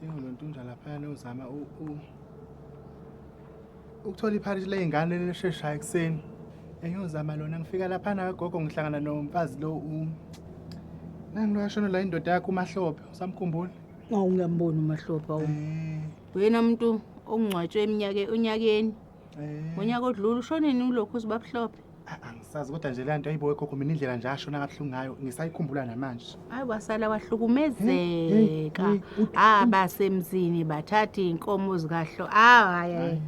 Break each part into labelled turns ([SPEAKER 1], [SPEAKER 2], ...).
[SPEAKER 1] Dingo lontunja laphayana uzama ukuthola ipharishi ley'ngane elisheshayo ekuseni engiyozama lona ngifika laphana kagogo ngihlangana nomfazi lo nangiloyashona la indoda yakho umahlophe usamkhumbula ngawungamboni
[SPEAKER 2] umahlophe awu eh. wena muntu ongcwatshwe eminyake onyakeni Eh. Ngonyaka odlula ushonini ulokhu uzibabuhlophe. Ah, angisazi kodwa
[SPEAKER 1] nje le nto ayibo wegogo mina indlela nje ashona kabuhlungu ngayo ngisayikhumbula namanje hayi wasala
[SPEAKER 2] wahlukumezeka ah basemzini bathatha iy'nkomo zikahlo ah hayi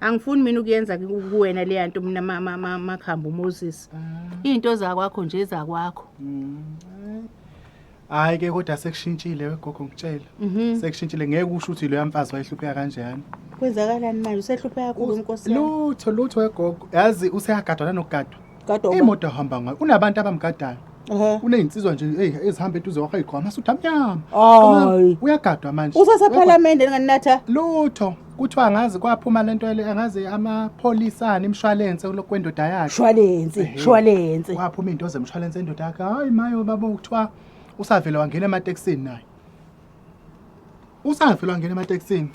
[SPEAKER 2] angifuni mina ukuyenza kuwena leya nto mina makhambi umoses ah. iy'nto zakwakho nje zakwakho mm,
[SPEAKER 1] Hayi ke kodwa sekushintshile wegogo ngitshela. Mhm. Sekushintshile ngeke usho ukuthi lo yamfazi wayehlupheka kanjani. Kwenzakalani manje
[SPEAKER 2] usehlupheka kakhulu inkosi yami. Lutho lutho
[SPEAKER 1] wegogo. Yazi useyagadwa nanokugadwa. Gadwa uba. Imoto
[SPEAKER 2] ahamba ngayo
[SPEAKER 1] unabantu abamgadayo. Ehhe. Unezinsizwa nje hey ezihamba eduze kwakhe igqwa amasudu amnyama. Hayi.
[SPEAKER 2] Uyagadwa manje.
[SPEAKER 1] Usasephalamende nganatha.
[SPEAKER 2] Lutho.
[SPEAKER 1] kuthiwa angazi kwaphuma lento ele angazi amapholisa ani imshwalense kulokhu kwendoda yakhe shwalense Ehhe. shwalense
[SPEAKER 2] kwaphuma into
[SPEAKER 1] zemshwalense endoda yakhe hayi mayo babo kuthiwa usavele wangena ematekisini naye usavele wangena ematekisini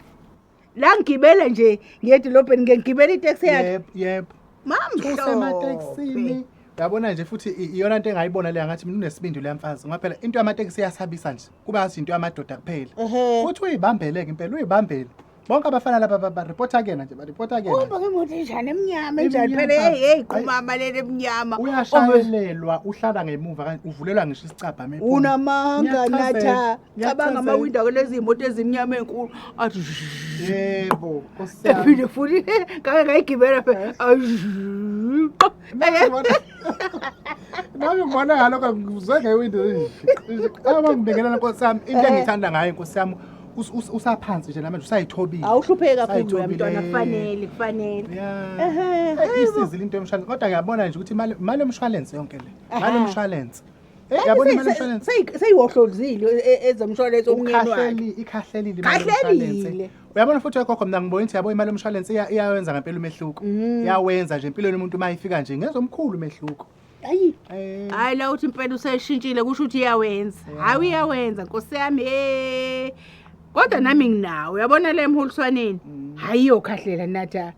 [SPEAKER 1] la
[SPEAKER 2] ngigibele nje ngiyedolobheni ngiye ngigibele iteksi yakhe yebo yebo
[SPEAKER 1] mamhlophe
[SPEAKER 2] usematekisini
[SPEAKER 1] yabona nje futhi i- iyona nto engayibona le angathi mina unesibindi le mfazi ngoba phela into yamatekisi iyasabisa nje kube azi into yamadoda kuphela Ehhe. uthi uyibambeleke impela uyibambele bonke abafana laba ba- baripota kuyena nje baripota kuyena Uhamba ngemoto enjani
[SPEAKER 2] emnyama enjani Emnyama. phela hey hey qumama leli emnyama. Ove- uyashayelelwa
[SPEAKER 1] uhlala ngemuva kanje uvulelwa ngisho isicabha uma ephuma. Unamanga Ngiyachazela,
[SPEAKER 2] natha cabanga ngiyachazela. amawindi ake lezi moto ezimnyama enkulu athi shh. yebo
[SPEAKER 1] Nkosi yami. ephinde futhi
[SPEAKER 2] ngake ngayigibela phela Ayi, shh.
[SPEAKER 1] nami ngibona ngalokho ngizwe ngewindi abangibingelela nkosi yami into engiyithanda ngayo nkosi yami usaphansi nje namanje usayithobile awuhlupheke kakhulu wena
[SPEAKER 2] mntwana kufanele kufanele
[SPEAKER 1] isizile into yomshwalense kodwa ngiyabona nje ukuthi imali yomshwalense yonke le mali yomshwalense Hey yabona imali insurance. Seyiwohlozile
[SPEAKER 2] e, e, ezomshwalense omnyeni wakhe. Ikhahlelile imali
[SPEAKER 1] insurance. Uyabona futhi ekhokho mina ngibona ukuthi yabo imali yomshwalense iyawenza ngempela umehluko. Mm. Iyawenza nje impilo yomuntu uma ifika nje ngezomkhulu umehluko. Hayi. Eh. Hayi la uthi impela
[SPEAKER 2] useshintshile kusho ukuthi iyawenza. Hayi uyawenza Nkosi yami. Eh. kodwa nami nginawo uyabona le emholiswaneni mm. hhayi iyokhahlela nathi eh.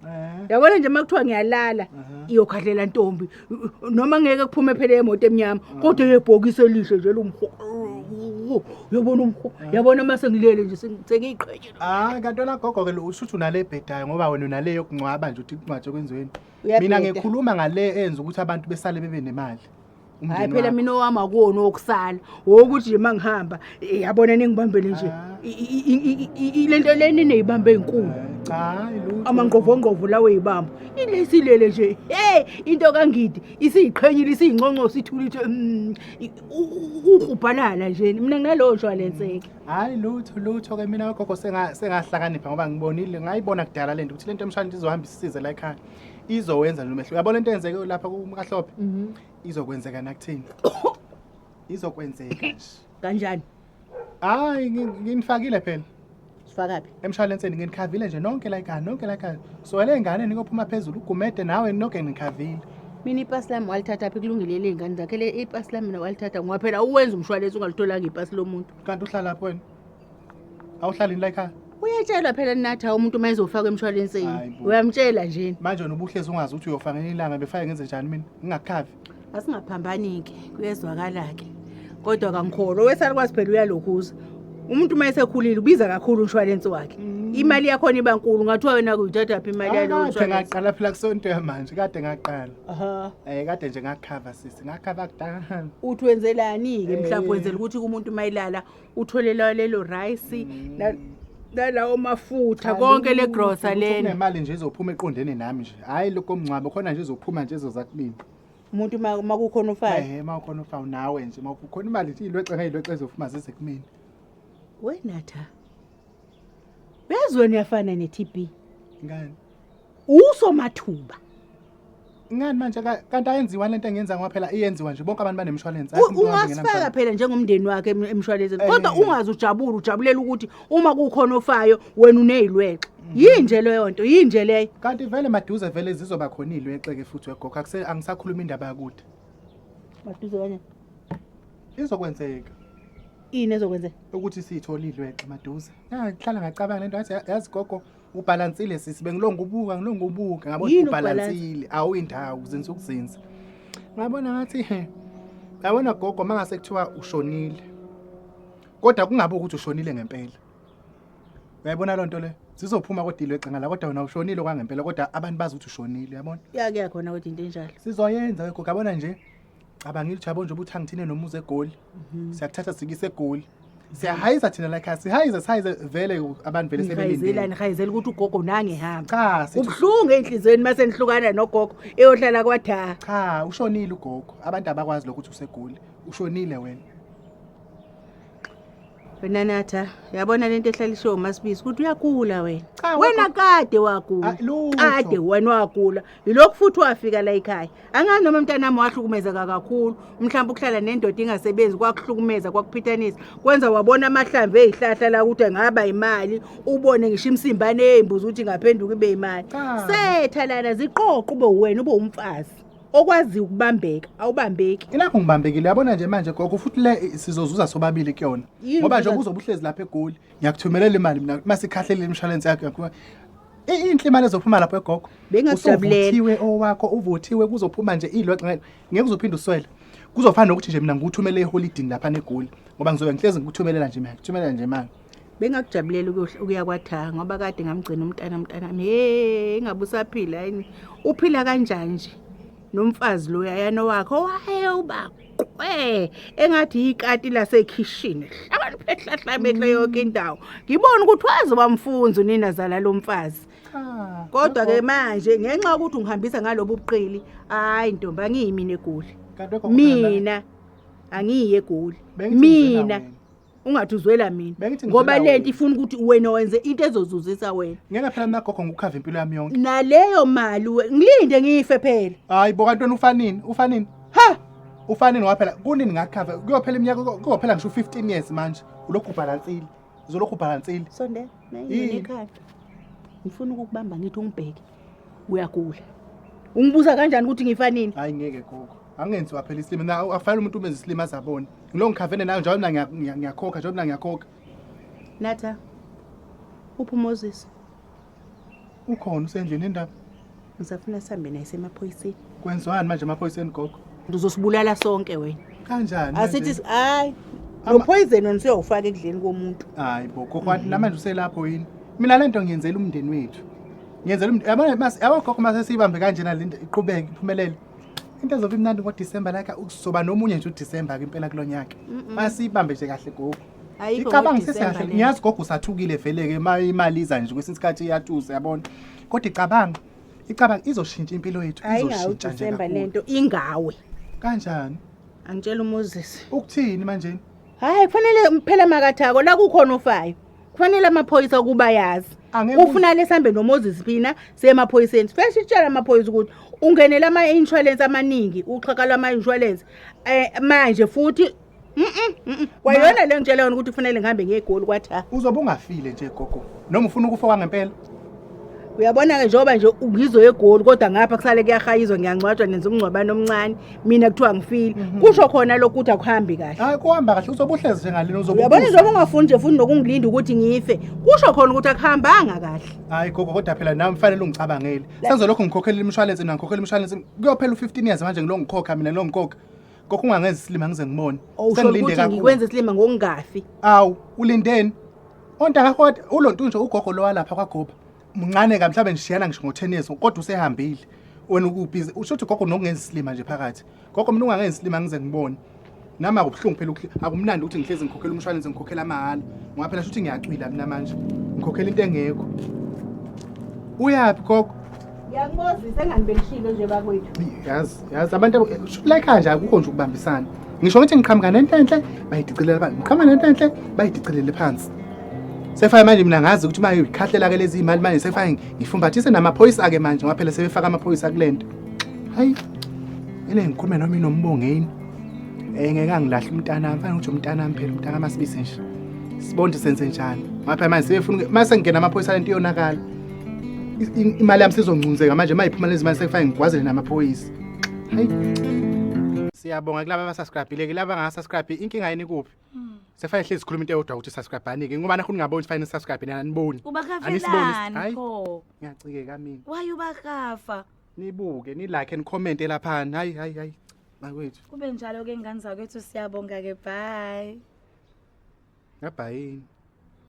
[SPEAKER 2] yabona nje uma kuthiwa ngiyalala iyokhahlela ntombi noma ngeke kuphume phela emoto emnyama ah. kodwa yebhokisi elihle nje lomhoo uyabona umhoo ah. yabona uma sengilele nje sengiyiqhetshe hayi ah, kanti olagogo-ke
[SPEAKER 1] lo usuthi unale ebhedayo ngoba wena unale yokuncwaba nje uthi kuncwatshe kwenziweni mina ngikhuluma ngale enza ukuthi abantu besale bebe nemali hayi phela
[SPEAKER 2] mina owami akuwona owokusala wokuthi nje uma ngihamba eh, yabona ningibambele nje ah. le nto le nineyibamba ey'nkulu eh,
[SPEAKER 1] amangqovongqovo lawo
[SPEAKER 2] eyibamba ilesilele nje hey into kangidi isiyiqhenyile isiyinconcosi ithulithe mm, ukrubhalala nje mina nginalowo nshwalenseke hhayi lutho lutho
[SPEAKER 1] ke mina ogogo sengahlakanipha ngoba ngibonile ngayibona kudala le nto ukuthi le nto emshana izohamba isisize la ekhaya izowenza lo mehluko yabona into eyenzeke lapha kumkahlophe Mhm. izokwenzeka nakuthini izokwenzeka nje Kanjani?
[SPEAKER 2] hayi
[SPEAKER 1] ngi- nginifakile phela Sifakaphi?
[SPEAKER 2] emshalenseni nginikhavile
[SPEAKER 1] nje nonke la ekhaya nonke la ekhaya suwele ey'ngane nikophuma phezulu ugumede nawe noke nginikhavile Mina ipasi lami
[SPEAKER 2] walithatha phi kulungile ley'ngane zakhe le ipasi lami mina walithatha ngoba phela uwenza umshwalense ungalitholanga ipasi lomuntu. kanti uhlalaphi wena
[SPEAKER 1] awuhlalini la ekhaya uyatshelwa phela nathi
[SPEAKER 2] hawu umuntu uma ezofakwa emshwalenseni Hayi bo. uyamtshela nje manje wena ubuhlezi ungazi
[SPEAKER 1] ukuthi uyofa ngenye ilanga befake ngenze njani mina ngingakukhavi asingaphambani-ke
[SPEAKER 2] kuyezwakala-ke kodwa kangikholwa owesalukwazi phela uyalokhuza umuntu uma esekhulile ubiza kakhulu umshwalensi wakhe imali yakhona iba nkulu ngathiwa wena kuyithathaphi imali yalowo kade mshwalensi ngaqala phela
[SPEAKER 1] kusonto yamanje kade ngaqala Aha. um kade nje ngakukhava sisi ngakukhava kudala uthi wenzelani-ke
[SPEAKER 2] mhlawumbe Eh. wenzela ukuthi kumuntu uma elala uthole layo lelo rice na- nalawo mafutha konke le grosa lena nemali nje izophuma eqondene
[SPEAKER 1] nami nje hhayi lokho mngcwabo khona nje izophuma nje ezozakulini umuntu ma-
[SPEAKER 2] makukhona ufayo ehe uma ukhona ufawu nawe
[SPEAKER 1] nje uma ukhona imali nje iyilwexe ngeyilwexe ezophuma zize kumina wenatha
[SPEAKER 2] bezweni uyafana ne-tb ngani usomathuba
[SPEAKER 1] Ngani manje ka- kanti ayenziwa lento engenza ngoba phela iyenziwa nje bonke abantu banemshwalense. U- ungasifaka phela
[SPEAKER 2] njengomndeni wakhe em- emshwalenzeni Eh. kodwa ungaze ujabule ujabulela ukuthi uma kukhona ofayo wena uneyilwexe Mhm. yinje leyo nto yinje leyo Kanti vele maduze
[SPEAKER 1] vele zizoba khona ilwexe ke futhi wegogo akuse angisakhuluma indaba yakude. maduze
[SPEAKER 2] kanye
[SPEAKER 1] Izokwenzeka
[SPEAKER 2] ini ezokwenzeka ukuthi siyithola
[SPEAKER 1] ilwexe maduze. Ngihlala ngacabanga lento yazi yazi gogo ubhalansile sisi bengilonga ubuka ngilonga ubuka ngabona Yini ubhalansile awuyindawo uzinza ukuzinza ngabona ngathi he yabona gogo mangase kuthiwa ushonile kodwa kungabe ukuthi ushonile ngempela uyayibona loo nto le sizophuma kodilo egcinga la kodwa wena ushonile kwangempela kodwa abantu bazi ukuthi ushonile yabona ya kuyakhona kodwa into
[SPEAKER 2] enjalo sizoyenza we gogo yabona
[SPEAKER 1] nje cabangile jabo nje ukuthi angithine nomuzi egoli mhm. siyakuthatha sikise egoli siyahayisa thina la khaya sihayisa sihayize vele abantu vele sebelindile nihayizela ukuthi ugogo
[SPEAKER 2] nange hamba cha ubuhlungu
[SPEAKER 1] enhlizweni
[SPEAKER 2] mase nihlukana nogogo eyohlala kwatha cha ushonile
[SPEAKER 1] ugogo abantu abakwazi lokho ukuthi usegoli ushonile wena
[SPEAKER 2] wena natha yabona lento ehlaliswe umasibisi ukuthi uyagula wena Cha, wena wakho- kade wagula Ah, lutho. kade wena wagula yilokhu futhi wafika la ekhaya angazi noma mntanami wahlukumezeka kakhulu mhlawumbe ukuhlala nendoda ingasebenzi kwakuhlukumeza kwakuphithanisa kwenza wabona amahlamvu eyihlahla la ukuthi angaba imali ubone ngisho imsimbane eyimbuzi ukuthi ingaphenduka ibe imali Cha. setha lana ziqoqo ube wena ube umfazi okwazi ukubambeka awubambeki ilapho ngibambekile
[SPEAKER 1] yabona nje manje gogo futhi le i- sizozuza sobabili kuyona Yini ngoba nje nje? uzobe uhlezi lapha egoli ngiyakuthumelela imali mina uma sikhahlelile imishwalense yakho yakho I- inhle imali ezophuma lapho egogo Bengakujabulela. Usuvuthiwe
[SPEAKER 2] owakho uvuthiwe
[SPEAKER 1] kuzophuma nje ilodwa ngeke ngeke uzophinde uswele kuzofana nokuthi nje mina ngikuthumele eholidini lapha negoli ngoba ngizobe ngihlezi ngikuthumelela nje mina ngikuthumelela nje manje bengakujabulela
[SPEAKER 2] ukuya kwathaha ngoba kade ngamgcina umntana mntanami he ingabe usaphila yini uphila kanjani nje nomfazi loya yana wakhe owaye ubaqwe engathi yikati lasekhishini hlakaniphehlahlabekle yonke indawo ngibona ukuthi waze wamfunza unina zala lo mfazi kodwa ke manje ngenxa yokuthi ungihambisa ngalobu buqili hayi ntombi angiyimina egoli mina angiyi egoli mina ungathi uzwela mina Bengithi ngoba ngizwela lento wena. ifuna ukuthi wena wenze into ezozuzisa wena ngeke phela mina gogo ngikukhave
[SPEAKER 1] impilo yami yonke naleyo mali
[SPEAKER 2] we- ngilinde ngife phela hayi bo kantoni ufanini
[SPEAKER 1] ufanini ha ufanini ngoba phela kunini ngakukhave kuyophela iminyaka kuyo- kuyophela ngisho u-15 years manje ulokhu ubhalansile uzolokhu ubhalansile sondela Yini?
[SPEAKER 2] nayinekhanda ngifuna ukukubamba ngithi ungibheke uyagula ungibuza kanjani ukuthi ngifanini hayi ngeke gogo
[SPEAKER 1] angenziwa phela isilima na akufanele umuntu umenze isilima azabona ngilo ngikhavene nayo njalo mina ngiya- ngiya- ngiyakhokha njalo mina ngiyakhokha Natha.
[SPEAKER 2] Uphi uMoses?
[SPEAKER 1] ukhona usendlini indaba Ngisafuna sihambe
[SPEAKER 2] naye semaphoyiseni. kwenziwani manje
[SPEAKER 1] amaphoyiseni gogo Ngizosibulala sonke
[SPEAKER 2] wena. kanjani Asithi
[SPEAKER 1] manje? si- hayi
[SPEAKER 2] Ama- lo poison wena usuyawufaka ekudleni komuntu. hayi bo gogo wathi
[SPEAKER 1] namanje uselapho yini mina le nto ngiyenzela umndeni wethu ngiyenzela umndeni yabona mas- yabo gogo mase siyibambe kanjena le nto iqhubeke iphumelele into ezobe imnandi ngodisemba like uzoba nomunye nje udisemba ke impela kulo nyaka masiyibambe nje kahle gogo Ayikho icabanga ngoDisemba sesekahle lena. ngiyazi gogo usathukile vele-ke uma imali iza nje kwesinye isikhathi iyatuza yabona kodwa icabanga icabanga izoshintsha impilo yethu hayi ngawe izoshintsha nje udisemba kakhulu. lento ingawe
[SPEAKER 2] kanjani
[SPEAKER 1] angitshela
[SPEAKER 2] umoses ukuthini manjeni
[SPEAKER 1] hayi kufanele
[SPEAKER 2] phela makathako la kukhona ofayo kufanele amaphoyisa ukuba yazi ufuna lesambe nomoses phina siyemaphoyiseni sifeshe itshela amaphoyisa ukuthi ungenele ama-insurance amaningi uxhaka lwama-insurance um manje futhi kwayona le ngitshela yona ukuthi kufanele ngihambe ngegoli kwathi ha uzobe ungafile nje
[SPEAKER 1] gogo noma ufuna ukufa kwangempela
[SPEAKER 2] uyabona-ke njengoba nje ngizoya egoli kodwa ngapha kusale kuyahayizwa ngiyangcwatshwa nenza umngcwabane omncane mina kuthiwa ngifile mhm. kusho khona lokhu ukuthi akuhambi kahle hayi kuhamba kahle uzobe
[SPEAKER 1] uhlezi njengalena uyabona njengoba ungafuni nje
[SPEAKER 2] futhi nokungilinda ukuthi ngife kusho khona ukuthi akuhambanga kahle hayi gogo kodwa phela
[SPEAKER 1] nami fanele ungicabangele senze lokhu ngikhokhela imishwalense nangikhokhela imishwalense kuyophela u-fifteen years manje ngilo ngikhokha mina ngilo ngikhokha Kokho ungangenza isilima ngize ngibone. Usho Sengilinde ukuthi kakhulu.
[SPEAKER 2] ngikwenza isilima ngokungafi. Awu,
[SPEAKER 1] ulindeni? Ontanga kodwa ulontu nje ugogo lo walapha kwagoba. Mncane ka mhlawumbe ngishiyana ngisho ngo-10 years kodwa usehambile. Wena ukubhizi usho ukuthi gogo nokungenza isilima nje phakathi. Gogo mina ungangenza isilima ngize ngibone. Nami akubuhlungu phela ukukhi- akumnandi ukuthi ngihlezi ngikhokhela umshwalense ngikhokhela amahhala. Ngoba phela shuthi ngiyacwila mina manje. Ngikhokhela into engekho. Uyaphi gogo?
[SPEAKER 2] Ngiyakubozisa engani belishilo nje bakwethu. Yazi, yazi abantu
[SPEAKER 1] abo- eh, shuthi like kanje akukho nje ukubambisana. Ngisho ngithi ngiqhamuka nento enhle bayidicilele phansi. Ngiqhamuka nento enhle bayidicilele phansi. Sefaya manje mina ngazi ukuthi uma ikhahlela ke lezi imali manje sefaya ngifumbathise namaphoyisa ake manje ngoba phela sebefaka amaphoyisa kulento. Hayi. Ele ngikhulume noma inombongeni. Eh ngeke angilahle umntana, mfana ukuthi umntana wami phela umntana masibise nje. Sibonde senze njani? Ngoba phela manje sebefuna mase ngingena amaphoyisa lento iyonakala. imali yami sizongcunzeka manje uma iphuma lezi mali sekufanele ngigwazele namaphoyisa hayi siyabonga kulaba abasubscribile kulaba angasubscribe inkinga yini kuphi hmm. sekufanele hlezi sikhuluma into eyodwa ukuthi subscribe-anike ngoba nakho ningaboni sifanele nisubscribe nina aniboni ubakafelani
[SPEAKER 3] pho ngiyacikeka mina
[SPEAKER 1] waye ubakafa
[SPEAKER 3] nibuke
[SPEAKER 1] nilike nikhomente laphani hayi hayi hayi bakwethu kube njalo ke ngane
[SPEAKER 3] zakwethu siyabonga ke bye ngabhayini